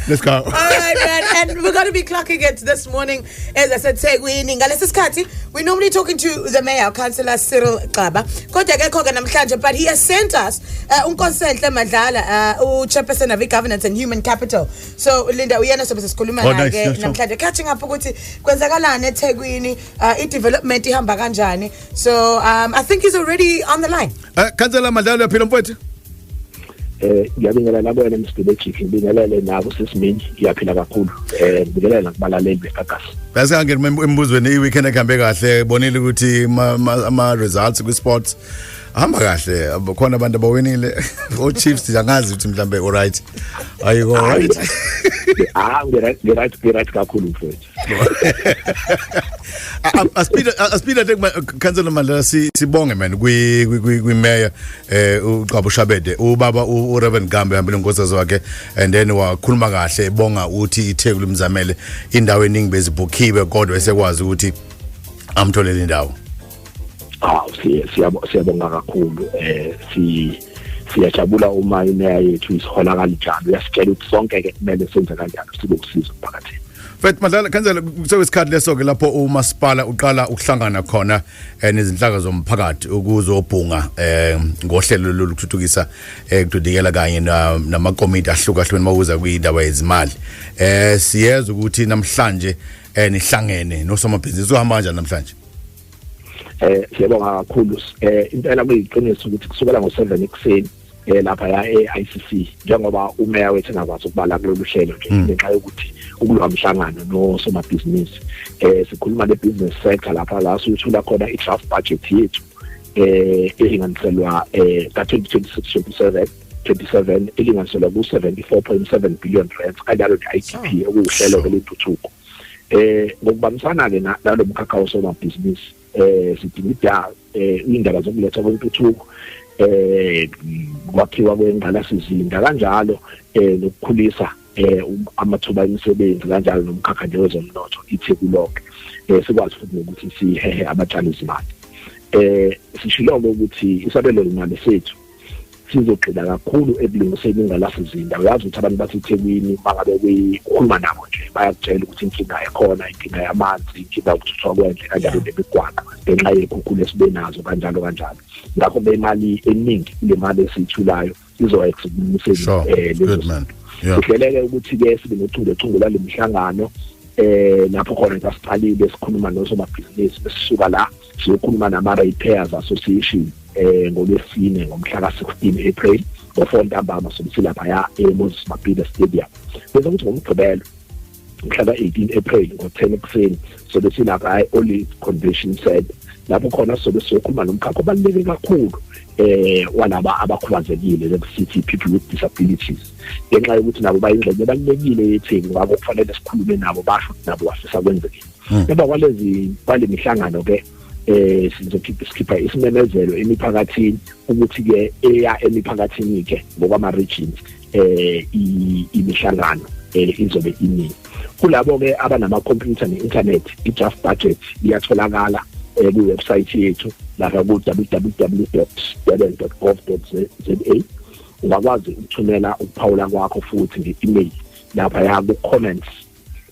Let's go. All right, man. And we're going to be clocking it this morning, as I said, Segwini. Ngalesi sikhathi, we're normally talking to the mayor, Councillor Cyril Xaba. Kodwa akekho ke namhlanje, but he has sent us uh, uNkonsenhle Madlala, uh, uChairperson of Governance and Human Capital. So Linda uyena sobe sesikhuluma Oh, naye nice, ke yeah, sure. namhlanje. Catching up ukuthi kwenzakalani eThekwini, uh, i-development ihamba kanjani. So um, I think he's already on the line. Eh, Councillor Madlalo uyaphila mfowethu? eh ngiyabingelela nabo wena Mr Magic ngibingelele nabo sesimini iyaphila kakhulu eh ngibingelela nakubalaleli beGagas Bese kange embuzweni i weekend ehambe kahle bonile ukuthi ama results kwi sports hamba kahle khona abantu abawinile o Chiefs ngiyangazi ukuthi mhlambe alright ayiko right ah ngiyathi ngiyathi kakhulu mfowethu asiphinda asiphinda nje councillor Mandela sibonge man kwi kwi mayor eh uqabo Shabede ubaba u Reverend Gambe hambile ngosazwe wakhe and then wakhuluma kahle ebonga uthi iTheku limzamele indawo eningi bezibhukhiwe kodwa esekwazi ukuthi amtholele indawo ah siyabonga kakhulu eh si siyajabula uma imeya yethu isihola kanjalo uyasitshela ukuthi sonke ke kumele senze kanjalo sibe usizo emphakathini Fethu madlala kanjalo kusewe isikhathi leso ke lapho umasipala uqala ukuhlangana khona eh, nezinhlaka zomphakathi ukuzobhunga eh, ngohlelo lokuthuthukisa ekudidikela eh, kanye namakomiti ahlukahlukene mawuza kuyindaba yezimali eh siyeza ukuthi namhlanje eh nihlangene nosomabhizinisi uhamba kanjani namhlanje eh siyabonga kakhulu eh impela kuyiqiniso ukuthi kusukela ngo7 ekuseni eh lapha ya eICC njengoba umeya wethu engakwazi ukubala kulolu hlelo nje mm. ngenxa yokuthi ukulwa mhlangano nosomabhizinisi eh sikhuluma nebusiness sector lapha la sithola khona idraft budget yethu eh elinganiselwa eh ka 2026 27 27 elinganiselwa ku 74.7 billion rand kanjalo ne IDP okuwuhlelo lwentuthuko eh ngokubambisana ke nalomkhakha osomabhizinisi eh sidinga idawo eh indaba zokuletha kwentuthuko eh kwakhiwa kwengqalasizinda kanjalo eh nokukhulisa eh um, amathuba emisebenzi kanjalo nomkhakha nje wezomnotho itheku lonke eh sikwazi futhi ukuthi sihehe abatshali izimali eh sishilo ukuthi isabelo imali sethu sizogxila kakhulu ekulungiseni ingalafuzinda uyazi ukuthi abantu basethekwini uma ngabe kukhuluma nabo nje bayakutshela ukuthi inkinga ekhona inkinga yamanzi inkinga yokuthuthwa kwendle kanjalo nemigwaqo ngenxa yekhukhulu esibe nazo kanjalo kanjalo ngakho bemali eningi kule mali esiyithulayo izoexa ukulungiseni um eh, kuhleleke ukuthi-ke sibe nochungechunge lwale mihlangano um lapho khona sasiqalile sikhuluma nosomabhizinisi besisuka la siyokhuluma nama-repairs association eh ngolwesine ngomhla ka-16 April ngo-4 ntambama sokuthi laphaya e-Moses Mabhida Stadium bese kuthi ngomgqibelo mhla ka-18 April ngo-10 ekuseni sobe silapha e-Olive Convention Center lapho khona sobe siyokhuluma nomkhakha obaluleke kakhulu eh walaba abakhubazekile lekusithi people with disabilities ngenxa yokuthi nabo bayingxenye ebalulekile yethini ngakho kufanele sikhulume nabo basho ukuthi nabo bafisa kwenzekile hmm. emva kwalezi kwale mihlangano ke eh sizokhipha sikhipha isimemezelo emiphakathini ukuthi ke eya emiphakathini ke ngokwama regions eh imihlangano eh, izobe iningi kulabo ke abanama computer ne internet i draft budget iyatholakala eh, ku website yethu lapha ku www.durban.gov.za ungakwazi ukuthumela ukuphawula kwakho futhi nge-email lapha ya ku comments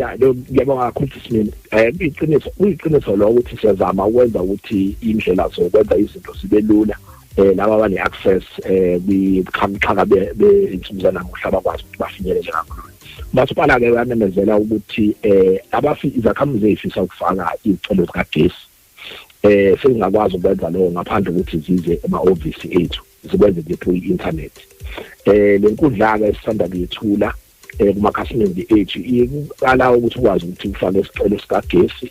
ya lo ngiyabonga kakhulu sisimini eh iqiniso iqiniso lo ukuthi siyazama ukwenza ukuthi indlela zokwenza izinto sibe lula eh laba bane access eh bikhamxhaka be insuza namuhla bakwazi ukuthi bafinyelele kakhulu masipala ke uyamemezela ukuthi eh abafi izakhamuzi ezifisa ukufaka izicelo zikagesi eh singakwazi ukwenza lokho ngaphandle ukuthi zize ema office ethu zikwenze nje through internet eh lenkundla ke sisanda kuyethula eh kumakhasimende ethu iqala ukuthi ukwazi ukuthi ufake isicelo sikagesi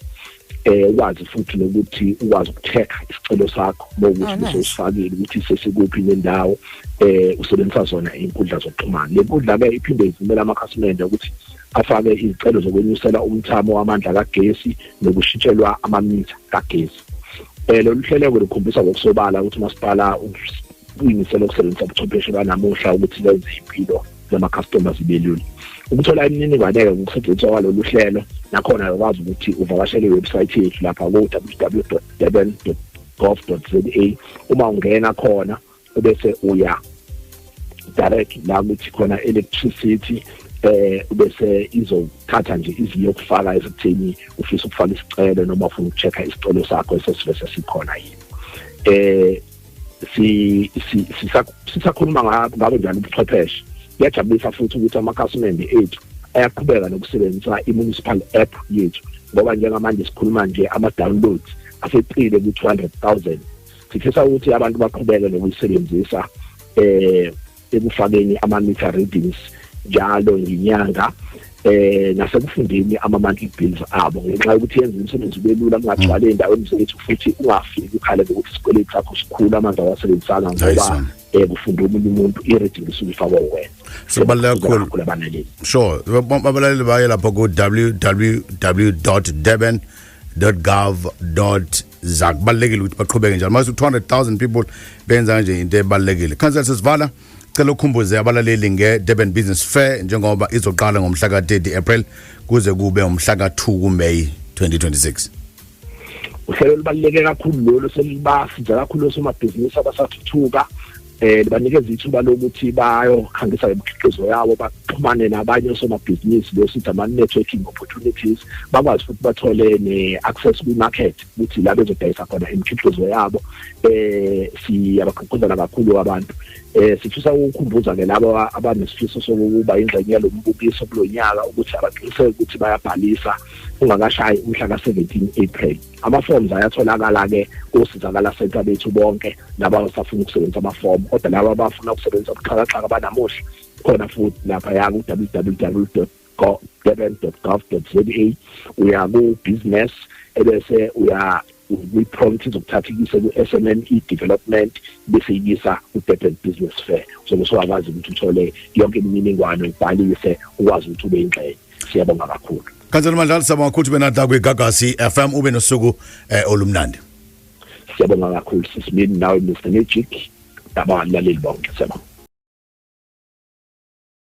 eh ukwazi futhi nokuthi ukwazi ukutheka isicelo sakho bokuthi oh, usifakile ukuthi sesikuphi nendawo eh usebenzisa zona inkundla zokuxhumana le nkundla ke iphinde ivumela amakhasimende ukuthi afake izicelo zokwenyusela umthamo wamandla kagesi nokushintshelwa amamitha kagesi eh lolu hlelo lukhombisa ngokusobala ukuthi umasipala uyimisela ukusebenzisa ubuchwepheshe banamuhla ukuthi lenze impilo zama-customers belula ukuthola imininingwane-ke ngokusetshenziswa kwalolu hlelo nakhona ukwazi ukuthi uvakashele iwebsayithi yethu lapha ku-www durban gov za uma ungena khona ubese uya direct la kuthi khona electricity eh bese izothatha nje iziyokufaka esithini ufisa ukufaka isicelo noma ufuna ukuchecka isicelo sakho esesivese sikhona yini eh si sisakhuluma ngabo njalo ubuchwepheshe kuyajabulisa futhi ukuthi amakhasimende ethu ayaqhubeka nokusebenzisa i-municipal app yethu ngoba njengamanje sikhuluma nje ama-downloads aseqile ku-200 000 sifisa ukuthi abantu baqhubeke nokuyisebenzisa um ekufakeni ama-meter readings njalo ngenyanga eh nasekufundeni ama-monthly bills abo ngenxa yokuthi yenza umsebenzi ube lula kungagcwale endaweni zethu futhi ungafiki ukhale ngokuthi isikweletu sakho sikhulu amanzi awasebenzisanga ngoba eh kufunda omunye umuntu i-reading isuke ifakwa wena sibaluleke kakhulu kubanaleli sure babalali baye lapho ku www durban gov za kubalekile ukuthi baqhubeke njalo mase 200000 people benza nje into ebalekile council sesivala cela ukhumbuze abalaleli nge Durban Business Fair njengoba izoqala ngomhla ka 30 April kuze kube umhla ka 2 ku May 2026 uhlelo lubaluleke kakhulu lolu selibasi nje kakhulu osomabhizinisi abasathuthuka eh banikeza ithuba lokuthi bayokhangisa imikhiqizo yawo baxhumane nabanye osomabhizinisi besithi ama-networking opportunities bakwazi futhi bathole ne-access kwi-market ukuthi la bezodayisa khona imikhiqizo yabo eh siyabagqugquzela kakhulu abantu eh sifisa ukukhumbuza ke labo abanesifiso sokuba ingxenye yalo mbukiso kulo nyaka ukuthi abaqiniseke ukuthi bayabhalisa ungakashayi umhla ka-17 April amaforms ayatholakala-ke kosizakala center bethu bonke laba abasafuna ukusebenzisa amafomu kodwa laba abafuna ukusebenzisa ubuxhakaxhaka banamuhla khona futhi laphaya ku-www durban.gov.za uya ku-business ebese uya kwi-prompt izokuthatha ikise ku-SMME development bese ikisa ku-Durban Business Fair so kusowakwazi ukuthi uthole yonke imininingwane ubhalise ukwazi ukuthi ube ingxenye siyabonga kakhulu Khansela Mandlala siyabonga ukuthi benadla kwiGagasi FM ube nosuku eh, olumnandi. Siyabonga kakhulu sisimini nawe Mr Magic. Dabani laleli bonke siyabonga.